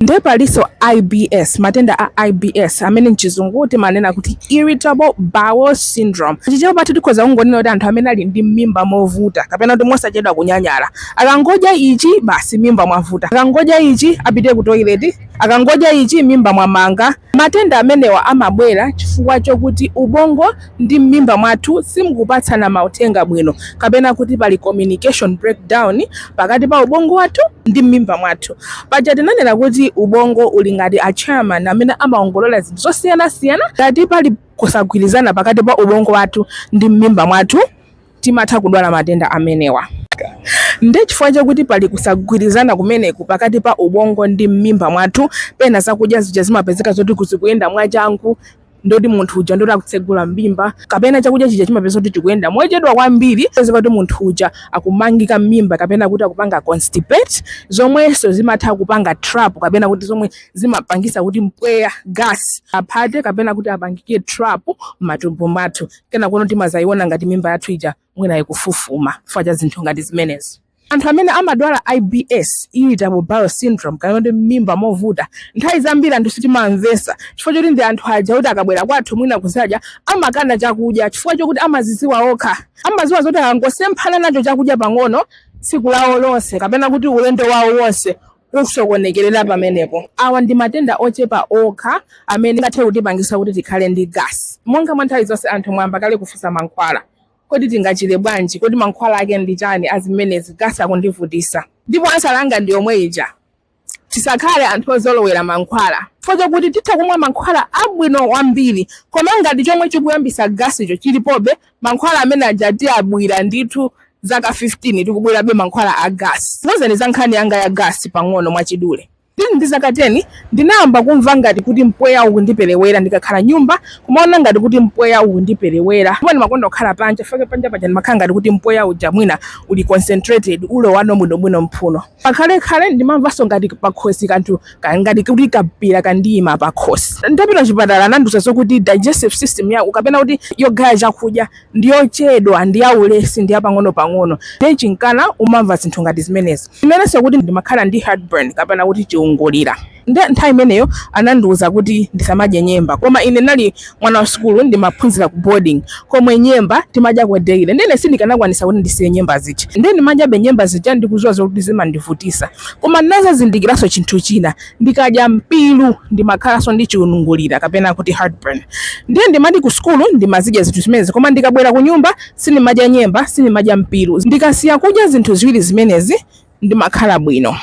Nde palinso IBS, matenda a IBS amene m'Chizungu timanena kuti irritable bowel syndrome. M'Chichewa tikhoza kungonena kuti anthu amene ali ndi m'mimba movuta kapena kuti mosachedwa kunyanyala. Akangodya ichi, basi m'mimba mwavuta. Akangodya ichi, apite kutoileti. Akangodya ichi, m'mimba mwamanga. Matenda amenewa amabwera chifukwa chokuti ubongo ndi mmimba mwathu simkupatsana mauthenga bwino kapena kuti pali communication breakdown pakati pa ubongo wathu ndi mmimba mwathu paja tinanena kuti ubongo uli ngati a chairman amene amaongolola zinthu zosiyanasiyana ngati pali kusagwirizana pakati pa ubongo wathu ndi mmimba mwathu timatha kudwala matenda amenewa nde chifukwa chakuti pali kusagwirizana kumeneku pakati pa ubongo ndi mmimba mwathu pena zakudya zija zimapezeka zoti kuzikuyenda mwachangu ndoti munthu uja ndoti akutsegula m'mimba kapena chakudya chija chimapezeka kuti chikuyenda mochedwa kwambiri pezeka kuti munthu uja akumangika m'mimba kapena kuti akupanga constipate zomwenso zimatha kupanga trap kapena kuti zomwe zimapangisa kuti mpweya gasi aphate kapena kuti apangike trap m'matumbo mwathu kenako uno timazayiona ngati mimba yathu ija mwina ikufufuma chifukwa cha zinthu ngati zimenezo anthu amene amadwala ibs irritable bowel syndrome kapena kuti m'mimba movuta nthawi zambiri anthu sitimamvesa chifukwa choti ndi anthu aja kuti akabwera kwathu mwina kuzadya amakana chakudya chifukwa chokuti amaziziwa okha amaziwa zoti akangosemphana nacho chakudya pang'ono tsiku lawo lonse kapena kuti ulendo wawo wonse ukusokonekerera pamenepo awa ndi matenda ochepa okha amene angathe kutipangisa kuti tikhale ndi gasi monga mwa nthawi zonse anthu mwamba kale kufusa mankhwala Kodi tingachire bwanji? Kodi mankhwala ake ndi chani a zimenezi? Gasi akundivutisa. Ndipo ansala yanga ndi yomwe ija. Tisakhale anthu ozolowera mankhwala. Chifukwa chakuti titha kumwa mankhwala abwino kwambiri, koma ngati chomwe chikuyambisa gasicho chilipobe, mankhwala amene aja tiyabwibwira ndithu zaka 15 tikubwirabe mankhwala a gasi. Ndikuuzeni za nkhani yanga ya gasi pang'ono mwachidule. Ndili ndi zaka 10, ndinayamba kumva ngati kuti mpweya ukundiperewera. Ndikakhala m'nyumba, kumaona ngati kuti mpweya ukundiperewera. Ndipo ndimakonda kukhala panja chifukwa panja paja ndimakhala ngati kuti mpweya uja mwina uli concentrated, ulowano bwinobwino m'mphuno. Pakhalekhale ndimamvanso ngati pakhosi kanthu ngati kuti kampira kandiima pakhosi. Nditapita kuchipatala anandiuza zokuti digestive system yako kapena kuti yogaya chakudya ndi yochedwa, ndi ya ulesi, ndi ya pang'onopang'ono, ndiye chinkana umamva zinthu ngati zimenezo. Imenenso kuti ndimakhala ndi heartburn kapena kuti chiungulira. Ndiye nthawi imeneyo anandiuza kuti ndisamadye nyemba. Koma ine ndinali mwana wa sukulu ndimaphunzira ku boarding komwe nyemba timadyako daily. Ndiye ine sindikanakwanisa kuti ndisiye nyemba zija. Ndiye ndimadyabe nyemba zija ndikuziwa zoti zimandivutisa. Koma ndinazazindikiranso chinthu china. ndikadya mpiru ndimakhalanso ndi chiungulira kapena kuti heartburn ndiye ndimati ku sukulu ndimazidya zinthu zimenezi koma ndikabwera ku nyumba sindimadya nyemba sindimadya mpiru ndikasiya kudya zinthu ziwiri zimenezi ndimakhala bwino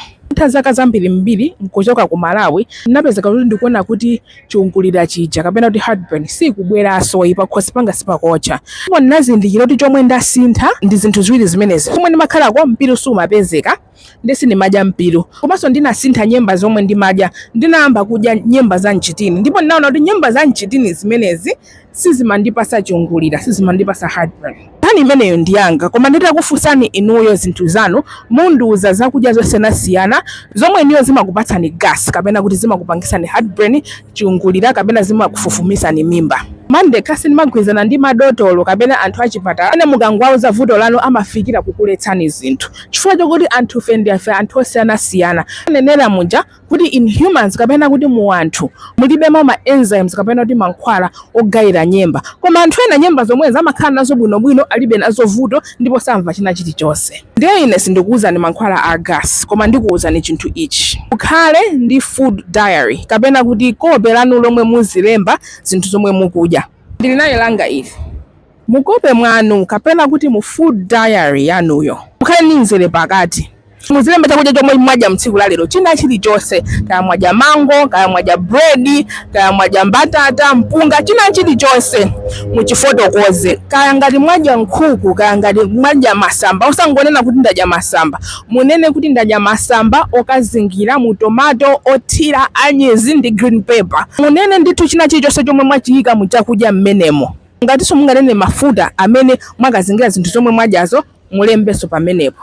zaka zambirimbiri nkuchoka ku malawi ndinapezeka kuti ndikuona kuti chiungulira chija kapena kuti heartburn sikubweranso ayi pakhosi panga sipakotcha ndipo ndinazindikira kuti chomwe ndasintha ndi zinthu ziwiri zimenezi komwe ndimakhalako mpiru sumapezeka ndiye sindimadya mpiru komanso ndinasintha nyemba zomwe ndimadya ndinayamba kudya nyemba za mchitini ndipo ndinaona kuti nyemba za mchitini zimenezi sizimandipasa chiungulira sizimandipasa heartburn nkhani imeneyo ndi yanga koma nditakufunsani inuyo zinthu zanu mundiuza zakudya zosiyanasiyana zomwe inuyo zimakupatsani gas kapena kuti zimakupangisani heartburn chiungulira kapena zimakufufumisani mimba nde sindimagwirizana ndi madotolo kapena anthu achipatala amene mukangowauza vuto lanu amafikira kukuletsani zinthu Chifukwa chakuti anthufe ndife anthu osiyanasiyana. Ndanenera muja kuti in humans kapena kuti mu anthu mulibemo ma enzymes kapena kuti mankhwala ogayira nyemba. Koma anthu ena nyemba zomwezo amakhala nazo bwinobwino alibe nazo vuto ndipo samva china chilichonse. Ndiye ine sindikuuzani mankhwala a gas koma ndikuuzani chinthu ichi. Mukhale ndi food diary kapena kuti kope lanu lomwe muzilemba zinthu zomwe mukudya. Ndili nayo langa ili. Mu kope mwanu kapena kuti mu food diary yanuyo mukhale ndi mzere pakati. Muzilemba chakudya chomwe mwadya mu tsiku la lero, china chilichonse. Kaya mwadya mango, kaya mwadya bread, kaya mwadya mbatata, mpunga, china chilichonse muchifotokoze. Kaya ngati mwadya nkhuku, kaya ngati mwadya masamba, osangonena kuti ndadya masamba. Munene kuti ndadya masamba okazingira mu tomato, othira anyezi ndi green pepper. Munene ndithu china chilichonse chomwe mwachiyika mu chakudya m'menemo. Ngatinso munganene mafuta amene mwakazingira zinthu zomwe mwadyazo, mulembenso pamenepo.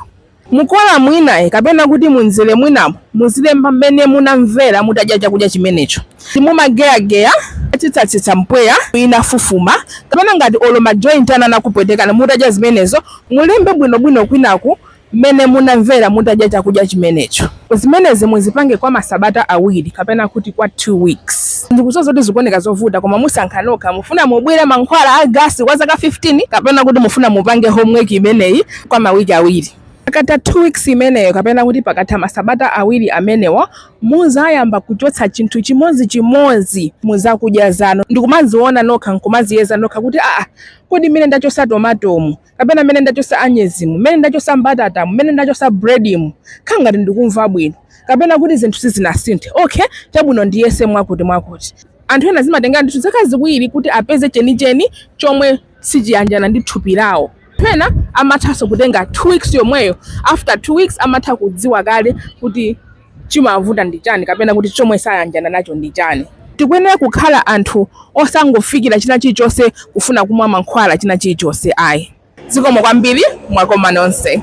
Mukolamu inayo kapena kuti munzere mwinamo, muzilemba mmene munamvera mutadya chakudya chimenecho. Ngati mumageyageya, mumatsitsatsitsa mpweya, mimba inafufuma, kapena ngati olo majointi anu anakupwetekani mutadya zimenezo, mulembe bwinobwino kwinaku. mmene munamvera mutadya chakudya chimenecho. Zimenezi muzipange kwa masabata awiri kapena kuti kwa 2 weeks. Ndikudziwa zoti zikuoneka zovuta koma musankha nokha mufuna mubwire mankhwala a gasi kwa zaka 15 kapena kuti mufuna mupange homework imeneyi kwa mawiki awiri. Pakatha 2 weeks imeneyo kapena kuti pakatha masabata awiri amenewo muzayamba kuchotsa chinthu chimodzi chimodzi muzakudya zanu ndikumaziona nokha nkumaziyeza nokha kuti aah kodi mmene ndachotsa tomatomu kapena mmene ndachosa anyezimu mmene ndachosa mbatatamu mmene ndachosa bredimu nkhala ngati ndikumva bwino kapena kuti zinthu sizinasinthe okay chabwino ndiyese mwakuti mwakuti anthu ena zimatengera ndithu zaka ziwiri kuti apeze chenicheni chomwe sichiyanjana ndi thupi lawo ena amathanso kutenga two weeks yomweyo after two weeks amatha kudziwa kale kuti chimavuta ndi chani kapena kuti chomwe sayanjana nacho ndi chani. Tikuyenera kukhala anthu osangofikira china chilichonse kufuna kumwa mankhwala china chilichonse ayi. Zikomo kwambiri mwakoma nonse.